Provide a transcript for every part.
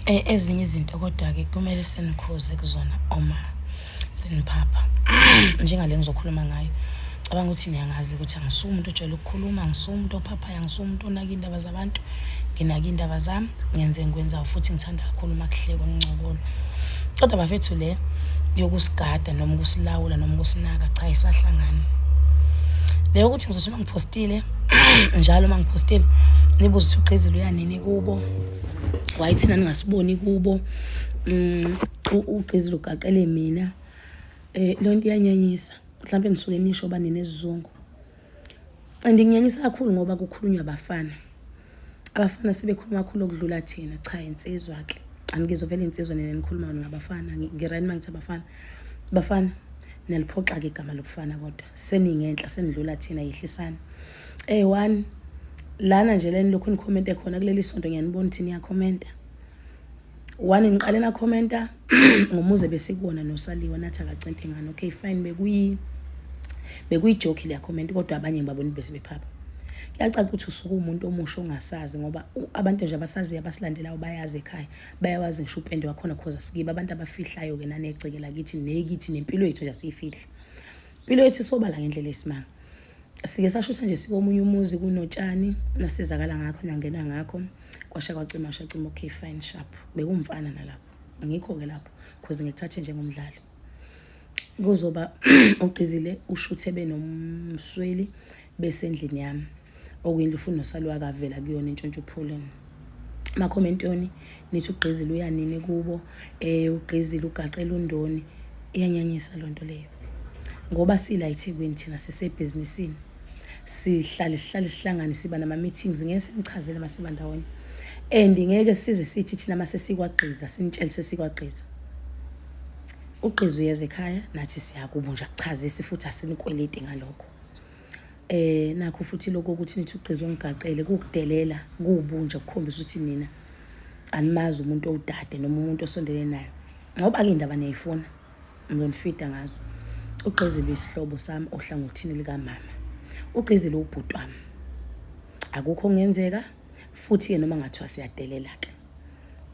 E, ezinye izinto kodwa-ke kumele sinikhuze kuzona uma siniphapha njengale ngizokhuluma ngayo cabanga ukuthi niyangazi ukuthi angisuwe umuntu ojwayele ukukhuluma angisuwe umuntu ophaphayo angisuwe umuntu onaka iy'ndaba zabantu nginaka iy'ndaba zami ngenze engikwenzayo futhi ngithanda kakhulu uma kuhlekwa ngincokolo kodwa bafethu le yokusigada noma ukusilawula noma ukusinaka cha isahlangani le yokuthi ngizothi uma ngiphostile njalo uma ngiphostile nibuze ukuthi ugqizile uyanini kubo why thina ningasiboni kubo um ugqizile ugaqele mina um loo nto iyanyanyisa mhlawumpe nisuke nisho uba ninesizungu and nginyanyisa kakhulu ngoba kukhulunywa abafana abafana sebekhuluma kakhulu okudlula thina cha insizwa ke angizwa vele insizwa nina nikhuluma ngabafana ngirani uma ngithi abafana bafana naliphoxa-ke igama lobufana kodwa seningenhla senidlula thina yehlisani Hey one lana nje leni lokhu nikhomente khona kuleli sonto ngiyanibona ukuthi niyakhomenta one niqale nakhomenta ngomuze besikuwona nosaliwa nathi akacente ngani okay fine bekuyi bekuyijoki liyakhomenta kodwa abanye ngibabona bese bephapha kuyacaca ukuthi usuke umuntu omusha ongasazi ngoba abantu nje abasaziyo abasilandelayo bayazi ekhaya bayawazi ngisho upende wakhona khoza sikiba abantu abafihlayo-ke nanegceke lakithi nekithi nempilo yethu nje asiyifihli impilo yethu isobala ngendlela esimanga sike sashutha nje sikomunye umuzi kunotshani nasizakala ngakho nangena ngakho kwasha kwacima shacima okay fine sharp bekumfana nalapho ngikho ke lapho because ngithathe njengomdlalo kuzoba uqizile ushuthe benomsweli bese endlini yami okuyindlu futhi nosalwa kavela kuyona intshontsho phuleni makhomenti yoni nithi ugqizile uyanini kubo um ugqizile ugaqela undoni iyanyanyisa loo nto leyo ngoba sila ethekwini thina sisebhizinisini sihlale sihlale sihlangane siba nama-meetings ngeke senichazele uma siba ndawonye and ngeke size sithi thina uma sesikwagqiza sinitshele sesikwagqiza ugqiza uyeza ekhaya nathi siyakubo nje akuchazisi futhi asinikweleti ngalokho eh nakho futhi lokho ukuthi nithi ugqizo ngigaqele kukudelela kubunja kukhombisa ukuthi nina animazi umuntu owudade noma umuntu osondele nayo ngoba ke indaba niyayifuna ngizonifida ngazo ugqizile isihlobo sami ohlangothini likamama ugqizile ubhuti wami akukho ngenzeka futhi ke noma ngathiwa siyadelela ke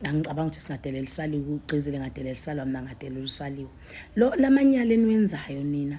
angicabanga ukuthi singadelela isaliwe ugqizile ngadelela isalwa mina ngadelela usaliwe lo lamanyala eniwenzayo nina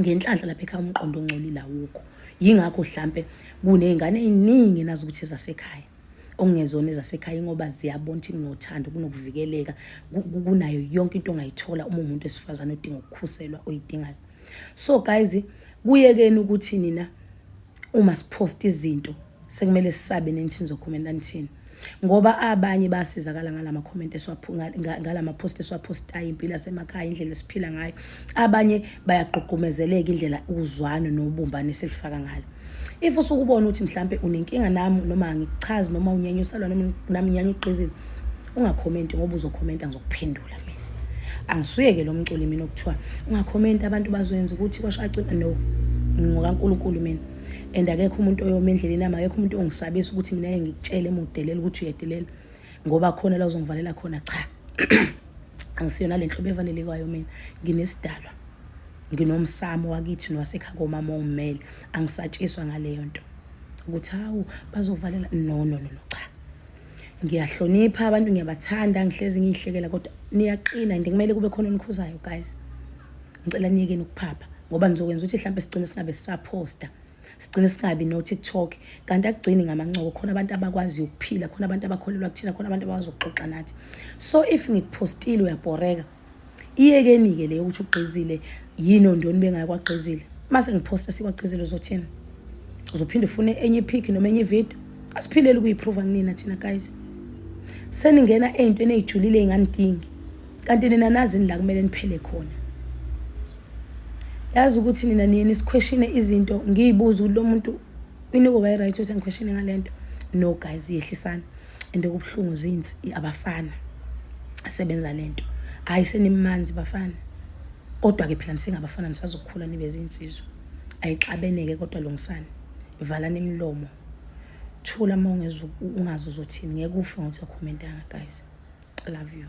ngenhlanhla lapha ekhaya umqondo ongcolile awukho yingakho hlampe kuney'ngane ey'ningi nazi ukuthi zasekhaya okungezona ezasekhaya ingoba ziyabona ukuthi kunothando kunokuvikeleka kunayo yonke into ongayithola uma umuntu esifazane odinga ukukhuselwa oyidingayo so guys kuyekeni ukuthi nina uma siphosta izinto sekumele sisabe nenithini zokhomenta nithini ngoba abanye basizakala ngalama comment esiwaphunga ngalama post esiwapostayo impilo yasemakhaya indlela esiphila ngayo abanye bayagqugqumezeleka indlela uzwano nobumbane esilifaka ngalo if usukubona ukuthi mhlambe unenkinga nami noma ngikuchazi noma unyanyuselwa noma nami nyanyugqizile ungakhomenti ngoba uzokhomenta ngizokuphendula mina angisuyeke lo mculi mina okuthiwa ungakhomenti abantu bazoyenza ukuthi kwasho acina no ngokaNkulunkulu mina and akekho umuntu oyoma endleleni yami akekho umuntu ongisabisa ukuthi mina ke ngikutshelele mudelela ukuthi uyedelela ngoba khona la uzongivalela khona cha angisiyona le nhlobo evalelekayo mina nginesidalwa nginomsamo wakithi nowasekhaya komama ongimele angisatshiswa ngaleyo nto ukuthi hawu bazovalela no no no no cha ngiyahlonipha abantu ngiyabathanda ngihlezi ngiyihlekela kodwa niyaqina and kumele kube khona onikhuzayo guys ngicela niyekeni ukuphapha ngoba nizokwenza ukuthi mhlawumbe sigcine singabe sisaphosta sigcine singabi no-tiktok kanti akugcini ngamancoko khona abantu abakwaziyo ukuphila khona abantu abakholelwa kuthina khona abantu abakwazi ukuxoxa nathi so if ngikuphostile uyabhoreka iyekeni-ke le yokuthi ugqizile yini ondoni bengayi kwagqizile uma sengiphosta sikwagqizile uzothini uzophinde ufune enye ipic noma enye ividiyo asiphileli ukuyiphruva kunina thina guys seningena ey'ntweni ey'julile ey'nganidingi kanti nina nazini la kumele niphele khona yazi ukuthi nina niye nisikhweshine izinto ngiyibuze ukuthi lo muntu iniko kayi-right ukuthi angikhweshine ngale nto no guys yehlisani and okubuhlungu zinsi abafana asebenza lento hayi senimanzi bafana kodwa ke phela nisengabafana nisazokhula nibe zinsizwa ayixabeneke kodwa lungisani valani imilomo thula uma ungezwa ungazi uzothini ngeke ufe ngothi akhomentanga guys i love you